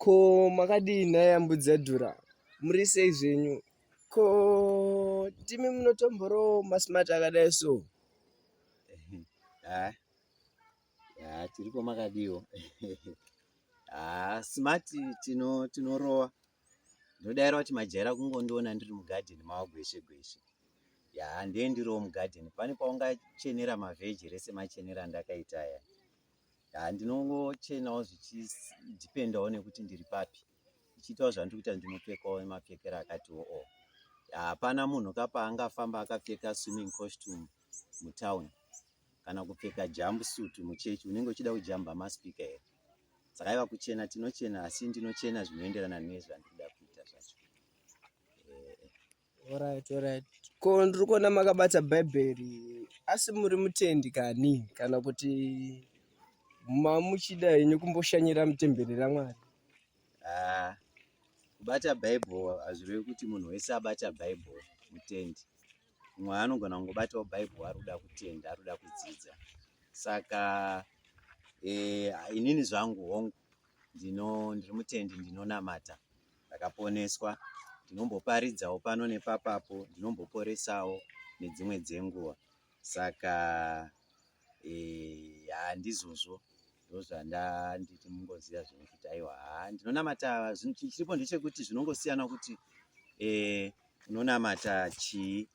ko makadii nhai ambudzi yadhura muri sei zvenyu ko timi munotomborowo masmart akadai so ha ha tiriko makadiwo ha smart tino tinorowa ndodaira kuti majaira kungondiona ndiri mugadheni mavo gweshe gweshe ya ndiye ndiriwo mugadheni pane paungachenera mavheji rese machenera ndakaita ya Ah, ndinongochenawo zvichidhipendawo nekuti ndiri papi ndichiitawo zvandiri kuita ndinopfekawo mapfekero akatiwo o hapana munhu ka paangafamba akapfeka swimming costume mutown kana kupfeka jump suit muchechi unenge uchida kujamba maspika here saka iva kuchena tinochena asi ndinochena zvinoenderana nezvandikuda kuita zvacho Alright, alright. Ko ndiri kuona makabata bhaibheri asi muri mutendi kani kana kuti mamuchida henyu kumboshanyira mutemberi ramwari Ah, kubata bible hazvirevi kuti munhu wese abata bible mutendi mumwe anogona kungobatawo bible ari kuda kutenda ari kuda kudzidza saka eh, inini zvangu hongu ndino ndiri mutendi ndinonamata ndakaponeswa ndinomboparidzawo pano nepapapo ndinomboporesawo nedzimwe dzenguva saka eh, handizvozvo e, ndozvandanditi mungoziva zvinhu kuti aiwa haa ndinonamata chiripo ndechekuti zvinongosiyana kuti eh, unonamata chii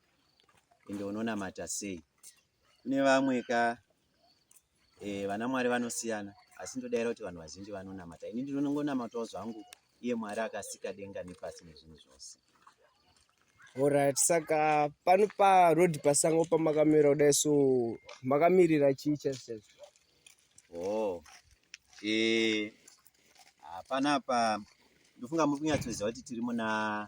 ende unonamata sei kune vamwe ka Eh, vana Mwari vanosiyana asi ndodaira kuti vanhu vazhinji vanonamata. Ini ndinongonamatawo zvangu iye Mwari akasika denga nepasi nezvinhu zvose. Alright, saka pano pa road pasango pamakamira kudai so makamirira chii chese? Oh. Eh. Hapana pa ndofunga muri kunyatsoziva kuti tiri muna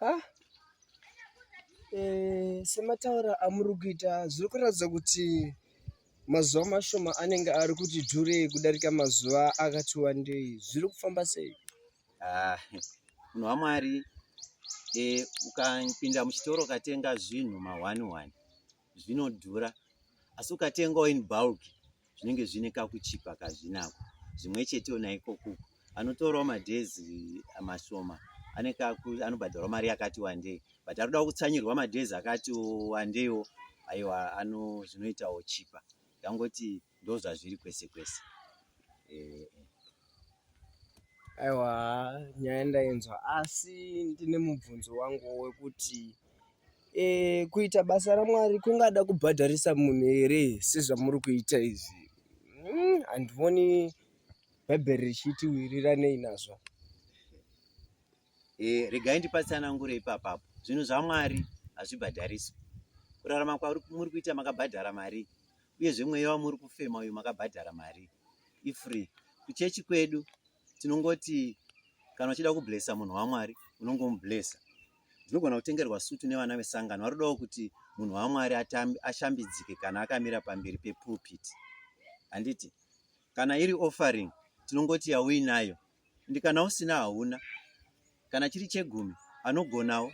ha eh, semataura amuri kuita zviri kuratidza kuti mazuva mashoma anenge ari kuti dhure kudarika mazuva akati wandei zviri kufamba sei ah, munhu wamwari eh, ukapinda muchitoro ukatenga zvinhu mahwani hwani zvinodhura asi ukatengawo in bulk zvinenge zvine kakuchipa kazvinako zvimwe chetewo naiko kuku anotorawo madhezi mashoma anobhadharwa mari yakati wandei but ari kuda kutsanyirwa madhezi akati wandeiwo aiwa ano zvinoitawo chipa ndangoti ndozvazviri kwese kwese eh, eh. aiwa nyaya ndainzwa asi ndine mubvunzo wangu wekuti e, kuita basa ramwari kungada kubhadharisa munhu here sezvamuri kuita izvi hmm, handioni mm, bhaibheri richiti wiriranei nazvo e, regai ndipatsanangure ipapapo zvinhu zvamwari hazvibhadhariswi kurarama kwamuri kuita makabhadhara mari uyezve mweya wamuri kufema uyu makabhadhara mari ifree kuchechi kwedu tinongoti kana uchida kublesa munhu wamwari unongomublesa ndinogona kutengerwa sutu nevana vesangano varodawo kuti munhu wamwari ashambidzike kana akamira pamberi pepulpit handiti kana iri offering tinongoti yauinayo ndi kana usina hauna kana chiri chegumi anogonawo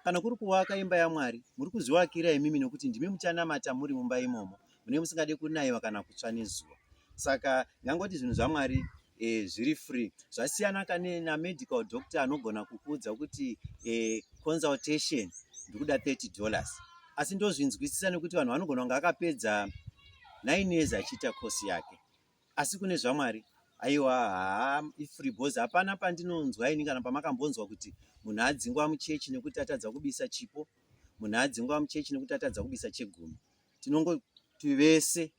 kana kuri kuvaka imba yamwari muri kuzvivakira imimi nokuti ndimi muchanamata muri mumba imomo mune musingade kunaiwa kana kutsva nezuva saka ndangoti zvinhu zvamwari e, zviri free zvasiyana kane namedical doctor anogona kukuudza kuti e, consultation ndikuda 30 dollars asi ndozvinzwisisa nekuti vanhu vanogona kunge akapedza nine years achiita kosi yake asi kune zvamwari aiwa haa ifree bos hapana pandinonzwa ini kana pamakambonzwa kuti munhu adzingwa muchechi nekuti atadza kubisa chipo munhu adzingwa muchechi nekuti atadza kubisa chegumi tinongoti vese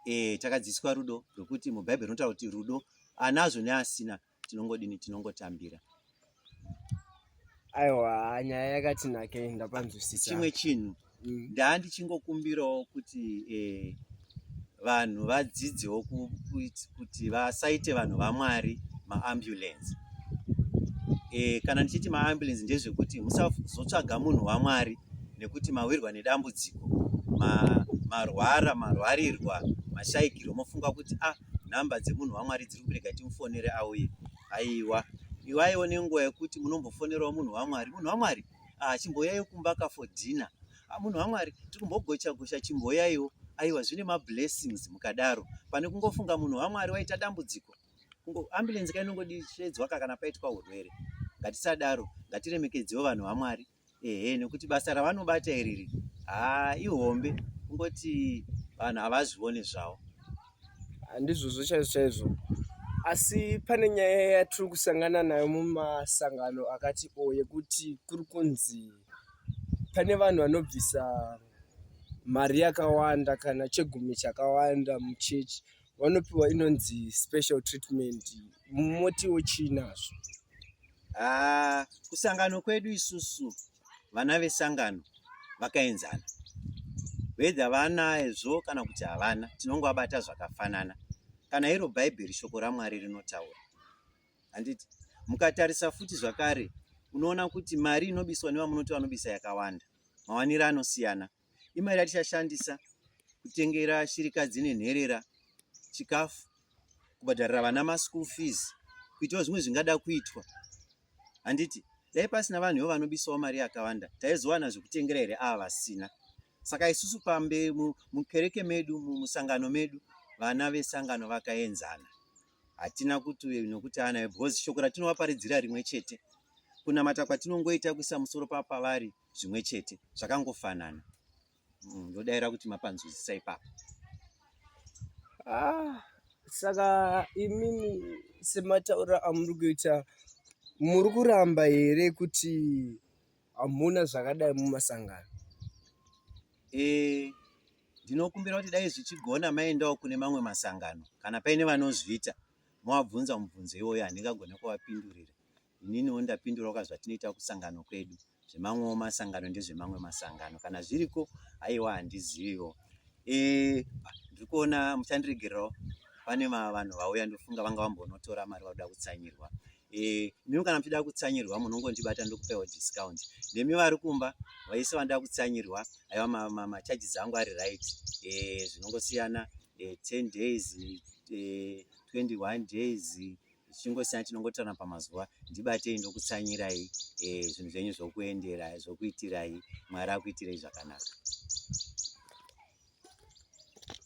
e, takadzidziswa rudo rwekuti mubhaibheri rinotaura kuti rudo anazvo neasina tinongodini tinongotambira aiwa nyaya yakati nake ndapanzwisisa chimwe chinhu mm. ndaa ndichingokumbirawo kuti eh, vanhu vadzidzewo kuti vasaite vanhu vamwari maambulensi e, kana ndichiti maambulensi ndezvekuti musazotsvaga munhu wamwari nekuti mawirwa nedambudziko marwara marwarirwa mashaikirwa mofunga kuti ah number dzemunhu wamwari dziri kubereka timufonere auye aiwa iwaiwo nenguva yekuti munombofonerawo munhu wamwari munhu wamwari ah, chimboyaiwo kumba ka for dinner ah, munhu wamwari tiri kumbogocha gocha chimboyaiwo aiwa zvine mablessings mukadaro pane kungofunga munhu wamwari waita dambudziko ambulensi kainongodisvedzwa ka kana paitwa urwere ngatisadaro ngatiremekedzewo vanhu vamwari ehe nekuti basa ravanobata iriri haa ihombe kungoti vanhu havazvione zvavo handizvozvo chaizvo chaizvo asi pane nyaya yatiri kusangana nayo mumasangano akati o yekuti kuri kunzi pane vanhu vanobvisa mari yakawanda kana chegumi chakawanda muchechi vanopiwa inonzi special treatment motiwo chii nazvo ah, kusangano kwedu isusu vana vesangano vakaenzana wedha vanaezvo kana kuti havana tinongovabata zvakafanana kana iro bhaibheri shoko ramwari rinotaura handiti mukatarisa futi zvakare unoona kuti mari inobiswa nevamunoti vanobisa yakawanda mawaniro anosiyana Imari yatichashandisa kutengera shirikadzi nenherera chikafu, kubhadharira vana maschool fees, kuitawo zvimwe zvingada kuitwa. Handiti dai pasina vanhu ivo vanobisawo mari yakawanda taizowana zvekutengera here ava vasina. Saka isusu pambe mukereke medu musangano medu vana vesangano vakaenzana hatina kuti uyu nokuti anayo because shoko ratinovaparidzira rimwe chete kunamata kwatinongoita kuisa musoro papavari zvimwe chete zvakangofanana mm, ndodaira kuti mapanzwisisa ipapo ah, saka imimi semataura amuri kuita muri kuramba here kuti hamuna zvakadai mumasangano e, ndinokumbira kuti dai zvichigona maendawo kune mamwe masangano kana paine vanozviita mowabvunza mubvunzo iwoyo handingagone kuvapindurira ininiwo ndapindurawo ka zvatinoita kusangano kwedu zvemamwewo masangano ndezvemamwe masangano kana zviriko aiwa handiziviwo e, ndiri kuona muchandiregererawo pane vanhu vauya ndofunga vanga vambonotora mari vakuda kutsanyirwa e, mimi kana muchida kutsanyirwa munongondibata ndokupewo discount nemi vari kumba vaise vanoda kutsanyirwa aiwa macharges angu ari right e, zvinongosiyana e, 10 days e, 21 days zvichingosiyana tinongotorana pamazuva ndibatei ndokutsanyirai eh, zvinhu e, zvenyu zvokuendera zvokuitirai mwari akuitirei zvakanaka